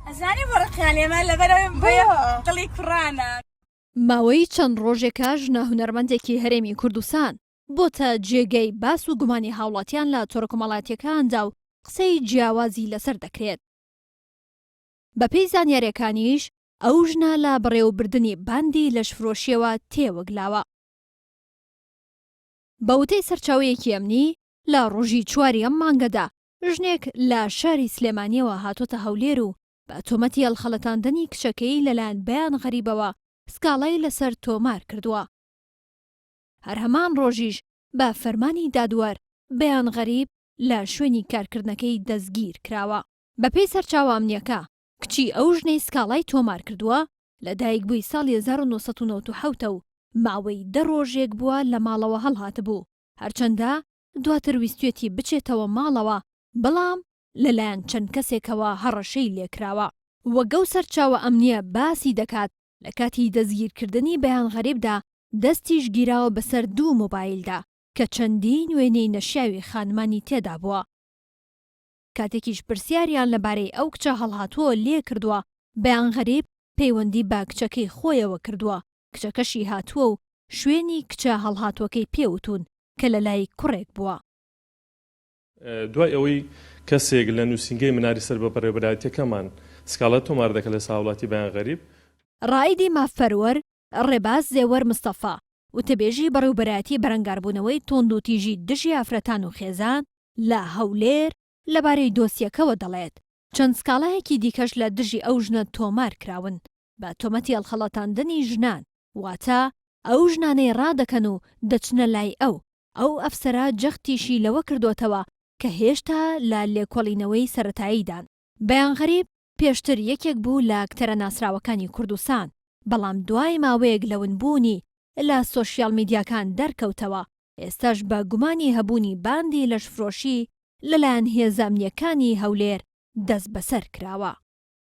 ئەزانی بۆ ڕقیان لێمە لەبەرەوەی بۆیە دڵی کوڕانە. ماوەی چەند ڕۆژێکە ژنە هونەرمەندێکی هەرێمی کوردستان بۆتە جێگەی باس و گومانی هاوڵاتیان لە تۆرە کۆمەڵاتیەکاندا و قسەی جیاوازی لەسەر دەکرێت، بەپێی زانیاریەکانیش ئەو ژنە لە بەڕێوەبردنی باندی لەشفرۆشیەوە تێوەگلاوە. بە وتەی سەرچاوەیەکی ئەمنی، لە ڕۆژی چواری ئەم مانگەدا ژنێک لە شاری سلێمانییەوە هاتۆتە هەولێر و بە تۆمەتی هەڵخەڵەتاندنی کچەکەی لەلایەن بەیان غەریبەوە سکاڵای لەسەر تۆمار کردووە. هەر هەمان ڕۆژیش بە فەرمانی دادوەر بەیان غەریب لە شوێنی کارکردنەکەی دەستگیر کراوە. بەپێی سەرچاوە ئەمنییەکە، کچی ئەو ژنەی سکاڵای تۆمار کردووە لەدایکبووی ساڵی هەزار و نۆ سەد و نەوەد و حەوت ە و ماوەی دە ڕۆژێک بووە لە ماڵەوە هەڵهاتبوو، هەرچەندە دواتر ویستویەتی بچێتەوە ماڵەوە، بەڵام لەلایەن چەند کەسێکەوە هەڕەشەی لێکراوە. وەک ئەو سەرچاوە ئەمنییە باسی دەکات، لە کاتی دەستگیرکردنی بەیان غەریبدا دەستیش گیراوە بەسەر دوو مۆبایلدا، کە چەندین وێنەی نەشیاوی خانمانی تێدابووە. کاتێکیش پرسیاریان لەبارەی ئەو کچە هەڵهاتووە لێکردووە، بەیان غەریب پەیوەندی بە کچەکەی خۆیەوە کردووە، کچەکەشی هاتووە و شوێنی کچە هەڵهاتووەکەی پێ وتوون کە لەلای کوڕێک بووە. دوای ئەوەی کەسێک لە نووسینگەی مناری سەر بە بەڕێوەبەرایەتییەکەمان سکاڵا تۆمار دەکات لەسەر هاوڵاتی بەیان غەریب، ڕائیدی مافپەروەر ڕێباز زێوەر مستەفا، وتەبێژی بەڕێوبەرایەتی بەرەنگاربوونەوەی توندوتیژی دژی ئافرەتان و خێزان لە هەولێر لەبارەی دۆسیەکەوە دەڵێت، چەند سکاڵایەکی دیکەش لە دژی ئەو ژنە تۆمار کراون بە تۆمەتی هەڵخەڵەتاندنی ژنان، واتە ئەو ژنانەی ڕادەکەن و دەچنە لای ئەو، ئەو ئەفسەرە جەختیشی لەوە کردووەتەوە کە هێشتا لە لێکۆڵینەوەی سەرەتاییدان. بەیان غەریب، پێشتر یەکێک بوو لە ئەکتەرە ناسراوەکانی کوردستان، بەڵام دوای ماوەیەک لە ونبوونی لە سۆشیال میدیاکان دەرکەوتەوە، ئێستاش بە گومانی هەبوونی باندی لەشفرۆشی لەلایەن هێزە ئەمنییەکانی هەولێر دەستبەسەر کراوە.